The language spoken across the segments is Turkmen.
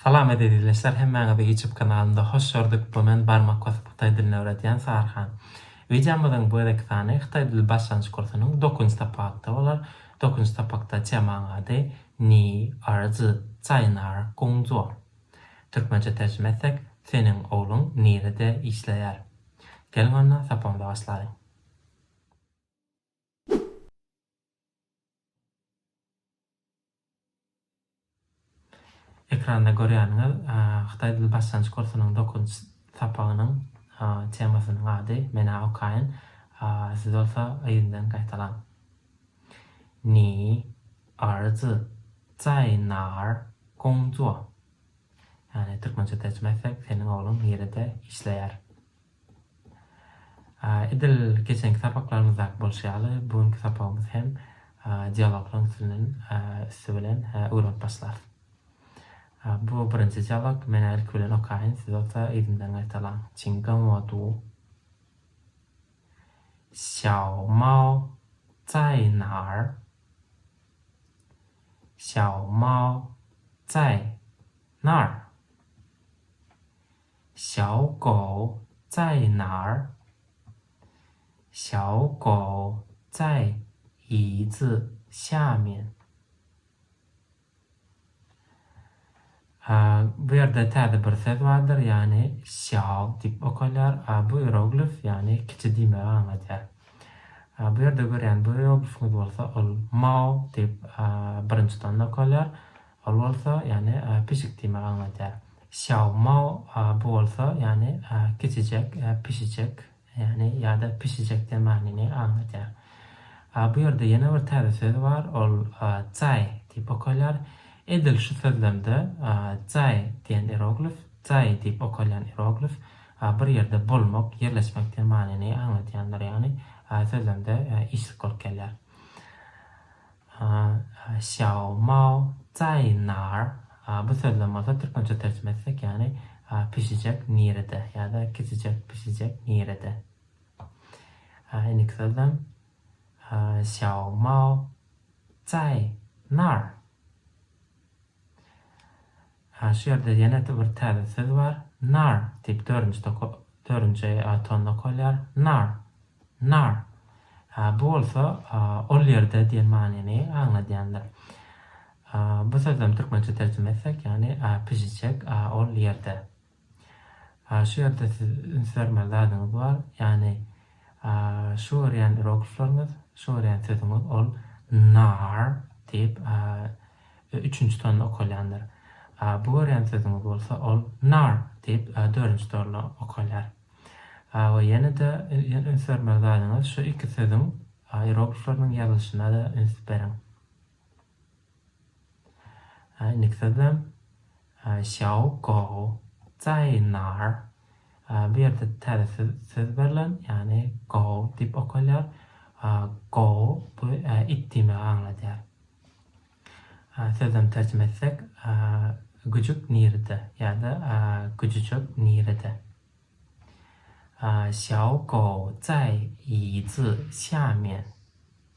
Salam eziz izleşler hemmäňizi ýutub kanalynda hoş gördük bu men barmak basyp hytaý dilini öwredýän Sarhan. Wideomyzyň bu gezekki sany hytaý dili başlanýyş kursunyň dokünji sapagynda bolar. Dokünji sapakda temaň ady Ni erzi zai nar gong zuo? Türkmençe terjime etsek Seniň ogluň nirede işleýär? Geliň onda sapagymyza başlalyň. Ekranda görýäniňiz hytaý dili başlangyç kursunyň dokuzynjy sapagynyň temasynyň ady. Men-ä okaýyn, siz bolsa yzyndan gaýtalaň. Ni erzi zaý nar gongzuo? Ýagny türkmençe terjime etsek, seniň ogluň nirede işleýär? Edil geçenki sapaklarymyzdaky bolşy ýaly, bu günki sapagymyzy hem dialoglaryň üstünden, üsti bilen öwrenip başlarys. Bu birinji dialog. Men ilki bilen okaýyn, siz bolsa yzymdan gaýtalaň. Çiň gen wo du. Xiao Mao zai nar? Xiao Mao zai nar? Xiao Gao Zai Nar? Xiao Gao Zai Yi Zi Xia Mian? A, bu ýerde täze bir söz bardyr, ýagny Xiao diýip okalýar. A, bu ieroglif, ýagny kiçi diýmegi aňladýar. A, bu ýerde görýän bu ieroglifimiz bolsa ol Mao diýip, a, birinji tanda okalýar. Ol bolsa, ýagny pişik diýmegi aňladýar. Xiao mao, bu bolsa, ýagny kiçijek, pişijek, ýagny ýa-da pişijek diýen manyny aňladýar. Bu ýerde ýene bir täze söz bar, ol zai diýip okalýar. Edil şu sözlemde zai diýen ieroglif, zai diýip okalýan ieroglif bir ýerde bolmak, ýerleşmek diýen manyny aňladýandyr, ýagny sözlemde işlik bolup gelýär. Xiao Mao Cai Nar, bu sözlem bolsa türkmençe terjime etsek, ýagny pişijek nirede ýa-da kiçijek pişijek nirede. Indiki sözlem Xiao Mao Cai Nar. Hä şu ýerde ýene-de bir täze söz bar, nar diýip dördünjide dördünji a tonda okalýar, nar, nar. Hä bu bolsa ol ýerde diýen manyny aňladýandyr. Bu sözem türkmençe terjime etsek ýagny pişijek ol ýerde. A şu ýerde siz üns bermeli zadyňyz bar, ýagny a şu görýän iroglifleriňiz, şu görýän sözüňiz ol nar diýip a üçünji tonda okalýandyr. A bu görýän sözüňiz bolsa ol nar diýip a dördünji torla okalýar. A we ýene-de üns bermeli zadyňyz şu iki sözüň a iroglifleriniň ýazylyşyna-da üns beriň. Niksezem Xiao Gao Zai Nar. Bu ýerde täze söz berlen, ýagny Gao diýip okalýar. Gao bu it diýmegi aňladýar. Sözem terjime etsek, Güjük nirede? ýa-da Güjüjek nirede? Xiao Gao Zai Yi Zi Xia Mian.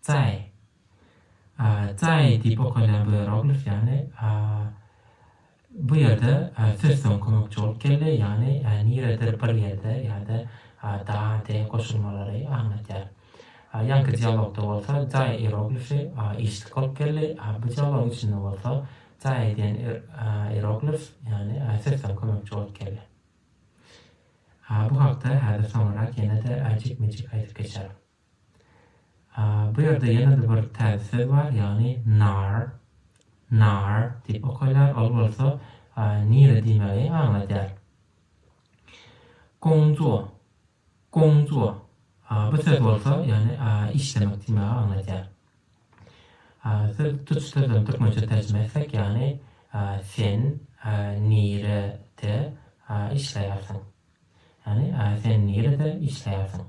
Tsaý. Tsaý diýip okalýan bu ieroglif ýagny bu ýerde söz soň kömekçi bolup geldi, ýagny niredir bir ýerde ýa-da da de goşulmalary aňladýar. Ýaňky dialogda bolsa tsaý ieroglifi işlik bolup geldi, bu dialogyň içinde bolsa tsaý diýen ieroglif ýagny söz soň kömekçi bolup geldi. Bu hakda häzir soňrarak ýene-de jikme-jik aýdyp geçerin. Bu ýerde ýene-de bir täze söz bar, ýagny nar, nar diýip okalýar, ol bolsa nire diýmegi aňladýar. Gongzuo, gongzuo, bu söz bolsa, ýagny işlemek diýmegi aňladýar. Söz tutuş sözlerini türkmençe terjime etsek, ýagny sen nirede işleýärsiň? Ýagny sen nirede işleýärsiň?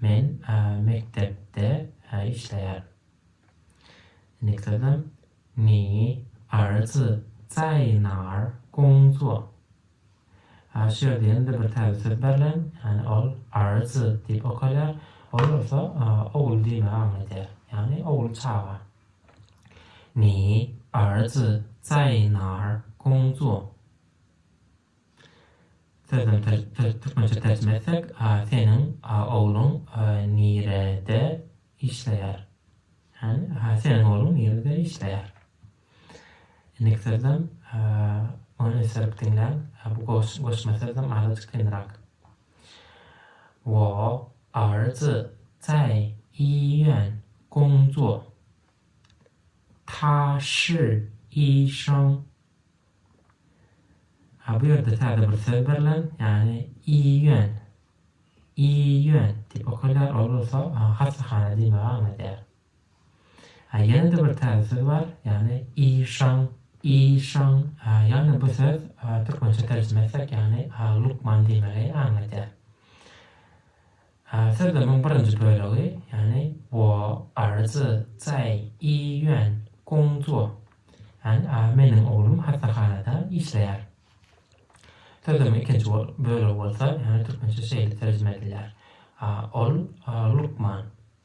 Men mekdepde işleýärin. Nikdadam, Ni erzi zaýnar gongzuo. Şu ýerde ýene-de bir täze söz berlen, ýagny ol erzi diýip okalýar, ol bolsa ogul diýmegi aňladýar, ýagny ogul çaga. Ni erzi zaýnar gongzuo. Sözüni türkmençe terjime etsek, A seniň ogluň nirede işleýär? Ýagny, A seniň ogluň nirede işleýär? Indiki sözem ony ösdürip diňläň. Bu goşma sözem azajyk kynrak. Wo er zi zai yi yuan gong zuo. Ta shi yi sheng Ha bu ýerde täze bir söz berlen, ýagny iýýän. Iýýän diýip okalýar, ol bolsa hassahana diýmegi aňladýar. Ha ýene-de bir täze söz bar, ýagny işan. Işan, ha ýagny bu söz türkmençe terjime etsek, ýagny lukman diýmegi aňladýar. Sözlemiň birinji bölegi, ýagny wo er zi cai yi yuan gong zuo, ýagny a meniň oglum hassahanada işleýär. Sözlemiň ikinji bölegi bolsa, ýagny türkmençe şeýle terjime edilýär, a ol lukman.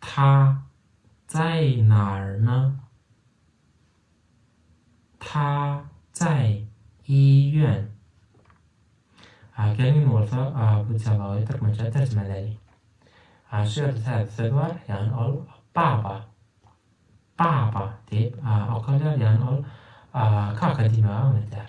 Ta jaý narna Ta jaý iýýän A Gelin bolsa A bu jawaby türkmençä terjimeleli A şu ýerde täze söz bar ýagny ol baba baba diýip okalýar ýagny ol kaka diýmegi aňladýar.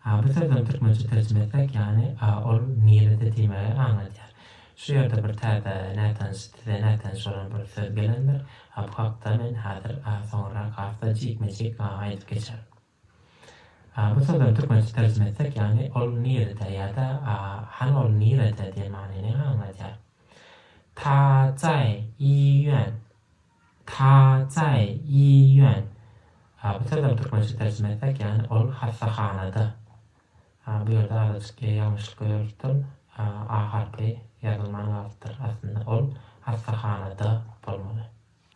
Hady sözüniň türkmençe terjime etseň, ýagny a ol nirede diýmegi aňladýar. Şu ýerde bir täze, nätanyş, size nätanyş bolan bir söz gelendir, a bu hakda men häzir, a soňurrak has-da jikme-jik, a aýdyp geçerin. A bu sözüni türkmençe terjime etsek, ýagny ol nirede ýa-da a hany ol nirede diýen manyny aňladýar. Ta, jaý, iýýän. Taçaý, Ýiýýon. A bu sözem türkmençe terjime etsek, ýagny ol hassahanada. A bu ýerde azajyk ýa ýalňyşlyk görülipdir. A A harpy ýazylman galypdyr. Aslynda ol hassahanada bolmaly.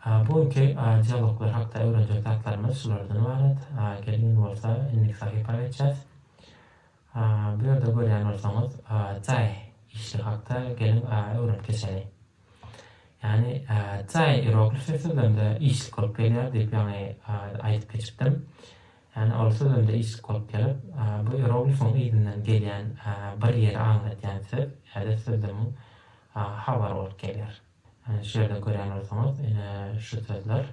A bu günki A dialoglar hakda öwrenjek zatlarymyz şulardan ybarat. A geliň indi bolsa indiki sahypa geçýäs. Bu ýerde görýän bolsaňyz, jaý işi hakda geliň öwrenip geçeli. Ýagny jaý ieroglifi sözlemde işlik bolup gelýär diýip ýaňy aýdyp geçipdim. Ýagny ol sözlemde işlik bolup gelip, bu ieroglifiň yzyndan gelýän bir ýeri aňladýan söz ýa-da sözlemiň habary bolup gelýär. Şu ýerde görýän bolsaňyz, ine şu sözler.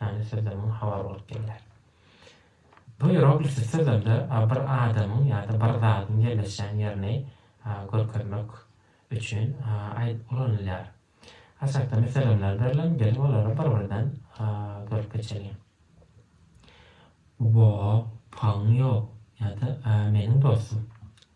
ýagny sözlemiň habary bolup gelýär. Bu ieroglifli sözlemde bir adamyň ýa-da bir zadyň ýerleşýän ýerini görkezmek üçin ulanylýar. Aşakda meselemler berlen, geliň olary bir-birden görüp geçeliň. Wo, paň ýok ýa-da meniň dostum.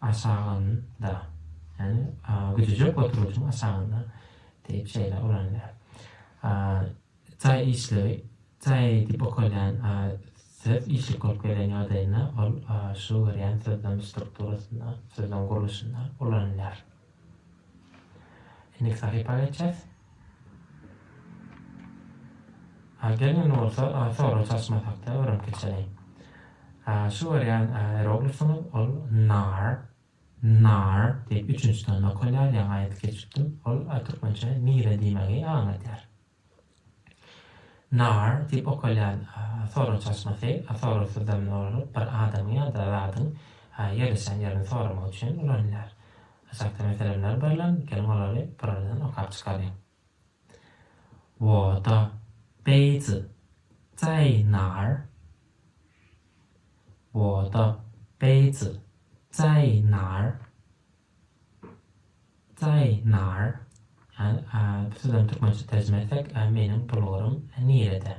aşagynda, ýagny güjüjek oturgyjyň aşagynda diýip şeýle ulanylýar. Jaý işligi, jaý diýip okalýan söz işlik bolup gelýän ýagdaýynda ol şu görýän sözlem strukturasynda, sözlem gurluşynda ulanylýar. Indi sahypa geçýäs. A gelmeli bolsa, a sorag çalyşmasak-da öwrenip geçeli. A şu görýän eroglifyňyz ol nar, nar diýip üçünji tanda okalýar, ýaňy aýdyp geçipdim. Ol türkmençe nire diýmegi aňladýar. Nar diýip okalýan sorag çaşmasy, sorag syzdamyny dolduryp, bir adamyň ýa-da zadyň ýerleşen ýerini soramak üçin ulanylýar. Aşakda meselemler berlen, geliň olary birardan okap çykaryň. Woda, beýzi, zaý nar? Woda, beýzi, zaý nar? Zaýnar, ýagny bu sözleriň türkmençe terjime etsek, meniň bulgurym nirede?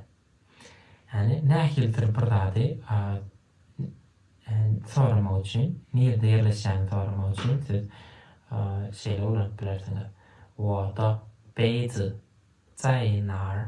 Ýagny nähilidir bir zady soramak üçin, nirede ýerleşýäni soramak üçin siz şeýle ulanyp bilersiňiz, Wo da beýdi, Zaýnar?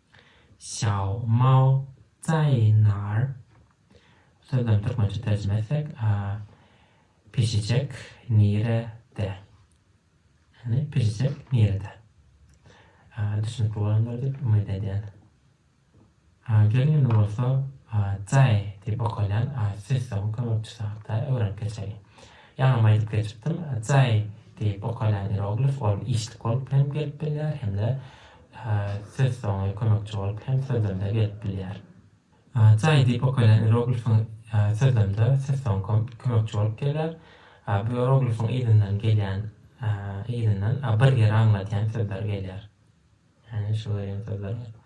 Xiao Mao Cai Nar sözlerini türkmençe terjime etsek, Pişijek nirede? Ýagny pişijek nirede? Düşünikli bolandyr diýip umyt edýän. Geliň indi bolsa Cai diýip okalýan sessawuň kömekçisi hakda öwrenip geçeliň. Ýaňam aýdyp geçipdim, Cai diýip okalýan ieroglif ol işlik bolup hem gelip bilýär hem-de Ses soňy kömekçi bolup hem sözlemde gelip bilýär. Cai diýip okaýlan ieroglifiň sözlemde ses soňy kömekçi bolup gelýär. Bu ieroglifiň yzyndan gelýän yzyndan bir ýeri aňladýan sözler gelýär. Ýagny şu görýän sözler gelýär.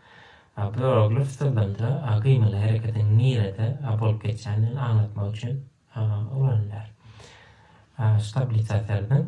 Bu ieroglif sözlemde gyýmyly hereketiň nirede bolup geçýändigini aňlatmak üçin ulanylýar. Şu tablisa serediň.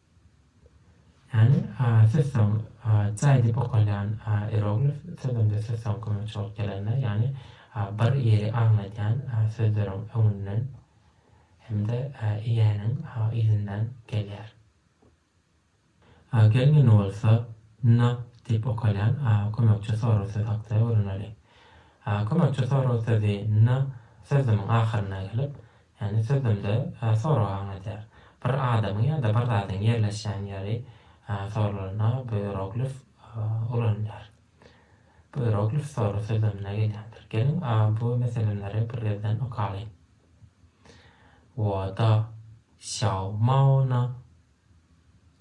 Hany, siz soň jaý diýip okalýan ieroglif sözünde siz soň kime çort gelende, ýagny bir ýeri aňladýan sözleriň öňünden hem-de iäniň yzyndan gelýär. Gelmeli bolsa, na diýip okalýan kömekçi sorag sözi hakda öwreneliň. Kömekçi sorag sözi na sözümiň ahyrynda gelip, Ýagny sözlemde sorag aňladýar. Bir adamyň ýa-da bir zadyň ýerleşýän ýeri sorulanda bu ieroglif ulanylýar. Bu ieroglif soru sözlemine gelýändir. Geliň, bu meseleleri bir gezden okalyň. Wo da xiao mao ne?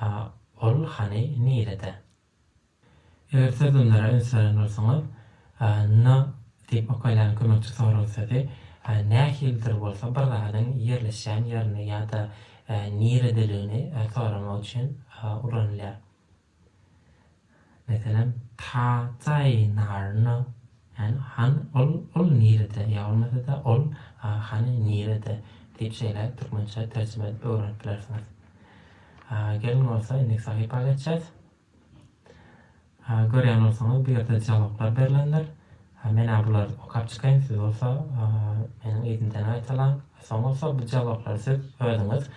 A ol hany nirede? Eger sözlemlere üns beren bolsaňyz, n diýip okaýlan kömekçi sorag sözi nähilidir bolsa bir zadyň ýerleşýän ýerini ýa-da niredeligini soramak üçin ulanylýar. Meselem, Taýtaý naryna, ýagny han ol, ol nirede, ýa bolmasa-da ol hany nirede diýip şeýle türkmençe terjime edip öwrenip bilersiňiz. Geliň bolsa indiki sahypa geçjäs. Görýän bolsaňyz bu ýerde jogaplar berlendir. Men-ä bulary okap çykaýyn, siz bolsa meniň yzymdan gaýtalaň. Soň bolsa bu jogaplary siz özüňiz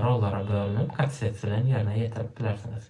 rollara bölünip, katsets bilen ýerine ýetirip bilersiňiz.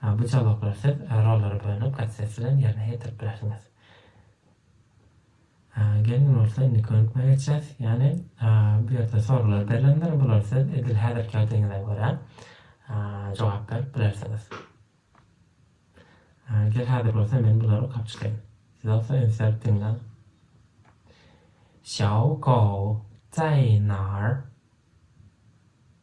Ha, bu jawaplary siz rollary bölüp, gazetesi bilen ýerine ýetirip bilersiňiz. Ha, geliň, indi bolsa indiki gönükmä geçýäs. Ýagny, ha, bu ýerde soraglar berlendir, bulary siz edil häzirki ýagdaýyňyza görä, ha, jogap berip bilersiňiz. Ha, gel, häzir bolsa men bulary okap çykaýyn. Siz bolsa ünsläp diňläň. Xiao Gou, Zaýnar.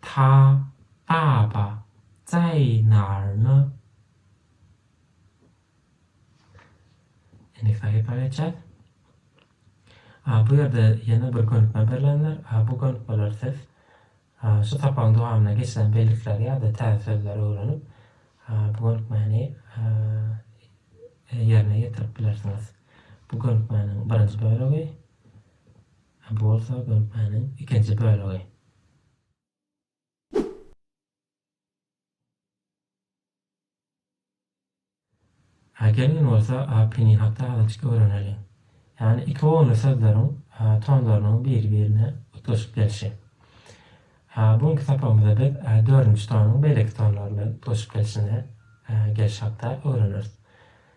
Ta baba jaýnarmy? Endiki sahypa geçýäs. A bu ýerde ýene bir gönükme berlendir. A bu gönükmeleri siz şu sapagyň dowamynda geçilen bellikleri ýa-da täze sözleri öwrenip, bu gönükmäni ýerine ýetirip bilersiňiz. Bu gönükmäniň birinji bölegi. A bu bolsa gönüpmäniň ikinji bölegi. A gelin bolsa A pini hakda azajyk öwreneliň. Ýagny iki gonly sözleriň A tonlarynyň biri-birine utgaşyp gelşi. A bu günki sapagymyzda biz A dördünji tonyň beýleki tonlar bilen utgaşyp gelşine A geliş hakda öwreneris.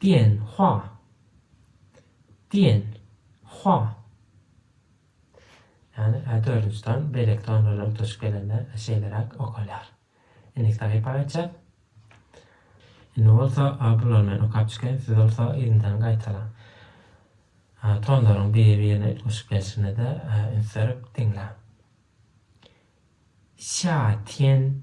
Diýen, hua. Diýen, hua. Ýagny, a dördünji ton beýleki ton bilen utgaşyp gelende şeýleräk okalýar. Indiki sahypa gaýtjak. Indi bolsa bular men okap çykaýyn, siz bolsa yzyndan gaýtalaň. Tonlaryň biri-birine utgaşyp gelşine-de üns berip diňläň. Xia tian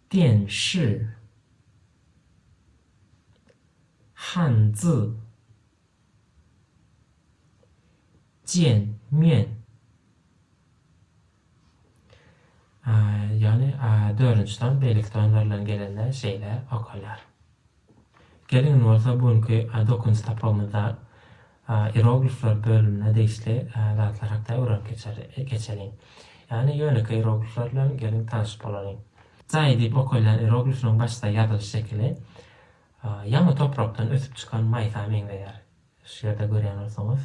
Dian Shi, Han Zi, Jian Mian, ýagny dördünji san beýleki sanlar bilen gelende şeýle okalýar. Geliň bolsa bu günki dokünç sapagymyzda ieroglifler bölümine degişli zatlar hakda öwrenip geçeliň. Ýagny ýönekeý ieroglifler bilen geliň tanyş bolalyň. Jaý diýip okalýan ieroglifiniň başda ýazylyş şekili ýaňy toprakdan ösüp çykan maýsa meňzeýär. Şu ýerde görýän bolsaňyz,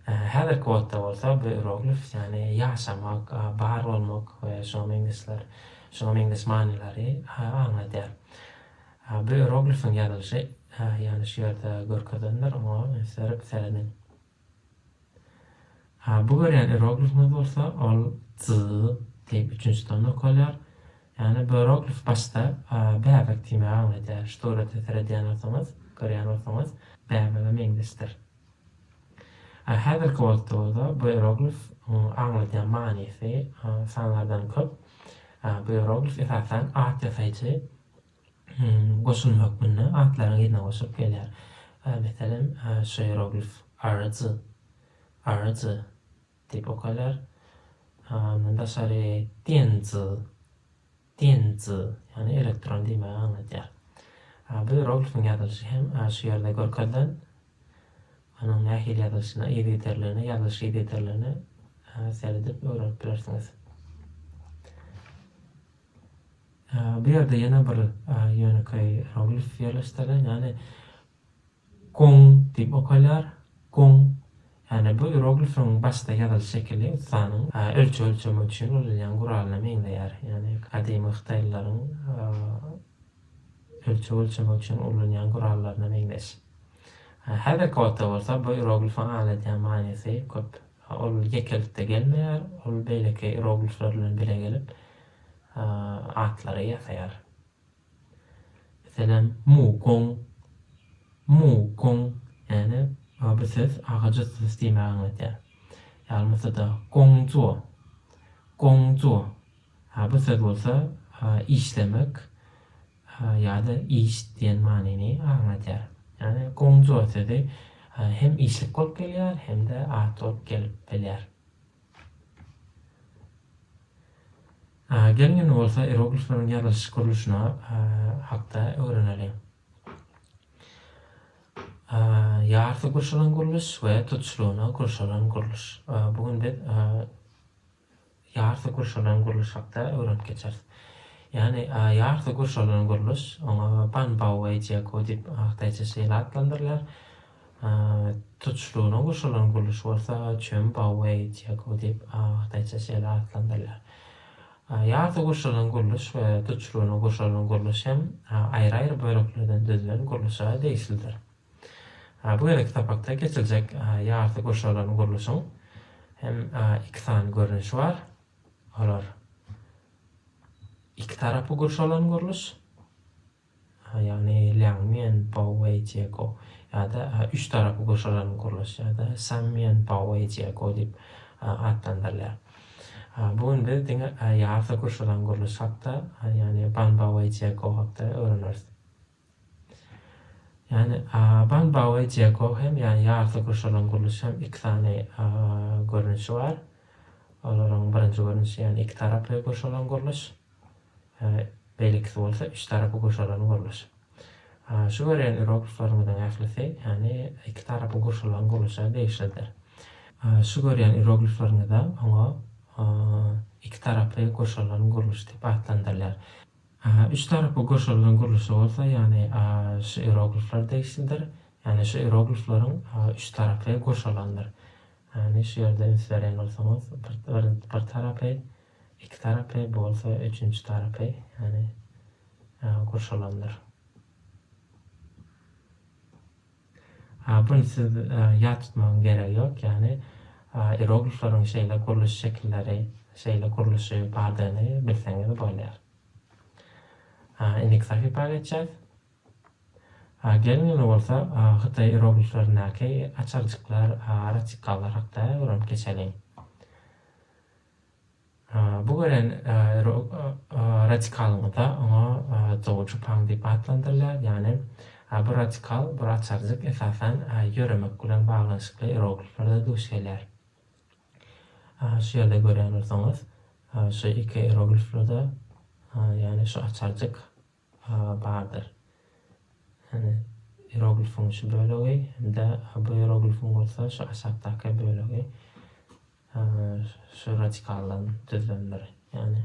häzirki wagtda bolsa bu ieroglif, ýagny ýaşamak, bar bolmak we şuňa meňzeşler, şuňa meňzeş manylary aňladýar. Bu ieroglifiň ýazylyşy, ýagny şu ýerde görkezilendir, oňa serip serediň. A bu görýän ieroglifimiz bolsa ol z diýip üçünji sanda okalýar. Ýagny bu ieroglif başda bäbek diýmäge aň edýär. Şu surata seredýän bolsaňyz, görýän bolsaňyz bäbege meňzeşdir. A häzirki wagtda bolsa bu ieroglif aňladýan manysy sanlardan köp. Bu ieroglif esasan at ýasaýjy. goşuny hökmünde atlaryň yzyna goşulyp gelýär. Meselem, şu ieroglif Arzy, Arzy, diýip okalýar. Ondan daşary Tenzi, Tenzi, ýagny elektron diýmegi aňladýar. Bu ieroglifiň ýazylyşy hem şu ýerde görkezilen onuň nähili ýazylyşyna, yzygiderligine, ýazylyş yzygiderligine seredip öwrenip bilersiňiz. Bu ýerde ýene bir ýönekeý ieroglif ýerleşdirilen, ýagny Gong diýip okalýar, Gong. Ýagny bu ieroglifiň başda ýazylyş şekili ussanyň ölçeg ölçemek üçin ulanýan guralyna meňzeýär. Ýagny gadymy hytaýlylaryň ölçeg ölçemek üçin ulanýan gurallaryna meňzeş. Häzirki wagtda bolsa bu ieroglifiň aňladýan manysy köp. Ol ýekelikde gelmeýär, ol beýleki iroglifler bilen bile gelip, atlary ýasaýar. Meselem, Mugong, Mugong, ýagny bu söz agajy sys diýmegi aňladýar. Ýaly bolsa-da, Gongzuo, Gongzuo, bu söz bolsa işlemek, Ha ýa-da iş diýen manyny aňladýar. Ýagny gongzuo sözi hem işlik bolup gelýär, hem-de at bolup gelip bilýär. Gelin indi bolsa ieroglifleriň ýazylyş gurluşyna hakda öwreneliň. Ýarty gurşalan gurluş we tutuşlygyna gurşalan gurluş. Bu gün biz Ýarty gurşalan gurluş hakda öwrenip geçeris. Ýany ýarty gurşalan gurluş, oňa Banbauei Jeko diýip, hytaýça şeýle atlandyrylýar. Tutuşlygyna gurşalan gurluş bolsa Çönbauei Jeko diýip, hytaýça şeýle atlandyrylýar. Ýarty gurşalan gurluş we tutuşlygyna gurşalan gurluş hem aýry-aýry böleklerden düzülen gurluşa degişlidir. Bu gezekki sapakda geçiljek ýarty gurşalan gurluşyň hem iki sany görnüşi bar. Olar iki tarapy gurşalan gurluş, ýagny Lýangmýen, Baowei, Jiego ýa-da üç tarapy gurşalan gurluş ýa-da Sammýen, Baowei, Jiego diýip atlandyrylýar. Bu gün biz diňe ýarty gurşalan gurluş hakda, ýagny Ban, Baowei, Jiego hakda öwreneris. Ýani Ban Baoe Jeko hem ýani ýarty gurşalan gurluş hem iki sany görnüşi bar. Olaryň birinji görnüşi ýani iki taraply gurşalan gurluş. Beýlekisi bolsa üç tarapy gurşalan gurluş. Şu görýän irogliplaryňyzyň ählisi ýani iki tarapy gurşalan gurluşa degişlidir. Şu görýän irogliplaryňyzda oňa iki taraply gurşalan gurluş diýip atlandyrylýar. Üç tarapy gurşalan gurluşy bolsa, ýagny şu ieroglifler degişlidir. Ýagny şu ieroglifleriň üç tarapy gurşalandyr. Ýagny şu ýerde üns berýän bolsaňyz, bir bir tarapy, iki tarapy, bu bolsa üçünji tarapy, ýagny gurşalandyr. Bun siz ýat tutmagyň geregi ýok, ýagny ieroglifleriň şeýle gurluş şekilleri, şeýle gurluşy bardygyny bilseňiz bolýar. Indiki sahypa geçýäs. Geliň indi bolsa hytaý ierogliflerindäki açarjyklar, ratikallar hakda öwrenip geçeliň. Bu gören radikalymyzda oňa dogujy paň diýip atlandyrylýar, ýagny bu radikal, bir açarjyk, esasan, ýöremek bilen baglanyşykly ierogliflerde duş gelýär. Şu ýerde görýän bolsaňyz, şu iki ierogliflerde, ýagny şu açarjyk, Hawa, bardyr. Hany, ieroglifiň şu bölegi hem-de bu ieroglifiň bolsa şu aşakdaky bölegi şu radikaldan düzülendir. Ýagny,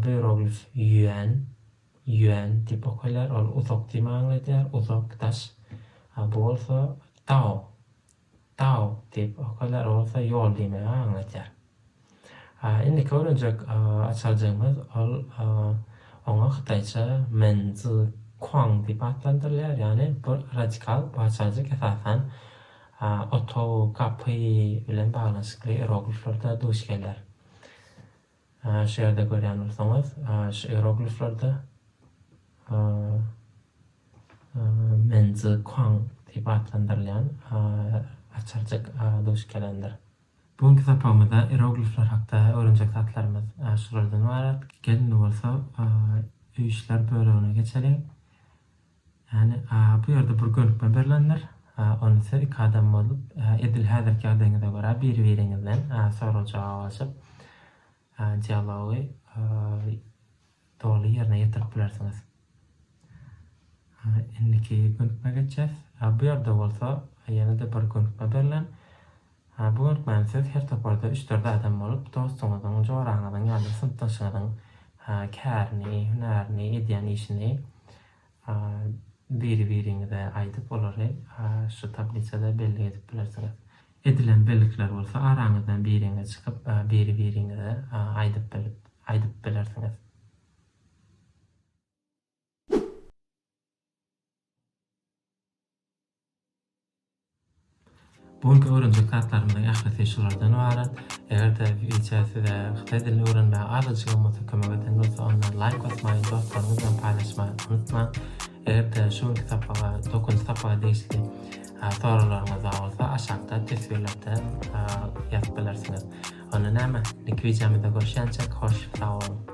bu ieroglif ýuan, Ýuan, diýip okalýar. Ol uzak diýme aňladýar, uzak, daş. Bu bolsa dao, Tau diýip okalar bolsa ýol diýmegi aňladýar. Indiki öwrenjek açarjygymyz ol oňa hytaýça Men Zi Kuang diýip atlandyrylýar, ýagny bu radikal bu açarjyk esasan otag, gapy bilen baglanyşykly iyerogliflerde duş geler. Şu ýerde görýän bolsaňyz, şu ierogliflerde Menzi Kuang diýip atlandyrylýan açarjyk duş gelendir. Bu günki sapagymyzda ieroglifler hakda öwrenjek zatlarymyz şulardan ybarat. Gelin bolsa öý işler bölegine geçeliň. Ýagny, bu ýerde bir gönükme berlendir. Ony siz iki adam bolup, edil häzirki ýagdaýyňyza görä biri-biriňizden sorag-jogap alşyp, dialogy doly ýerine ýetirip bilersiňiz. Indiki gönükmä geçýäs. Bu ýerde bolsa ýene-de bir gönükme berlen. Hä, bu görkmän siz her toparda üç-dört adam bolup, dostuňyzyň, joraňyzyň ýa-da synpdaşyňyzyň kärini, hünärini, edýän işini biri-biriňize aýdyp, olary şu tablisada bellik edip bilersiňiz. Edilen bellikler bolsa araňyzdan biriňiz çykyp, biri-biriňize aýdyp bilip, aýdyp bilersiňiz. Bu günki öwrenjek zatlarymyzyň ählisi şulardan ybarat. Eger-de wideo size hytaý dilini öwrenmäge azajygam bolsa kömek eden bolsa onda laýk basmagy, dostlaryňyz bilen paýlaşmagy unutmaň. Eger-de şu günki sapaga, dokuzynjy sapaga degişli soraglaryňyz bar bolsa aşakda teswirlerde ýazyp bilersiňiz. Onda näme, indiki wideomyzda görüşýänçäk hoş sag boluň.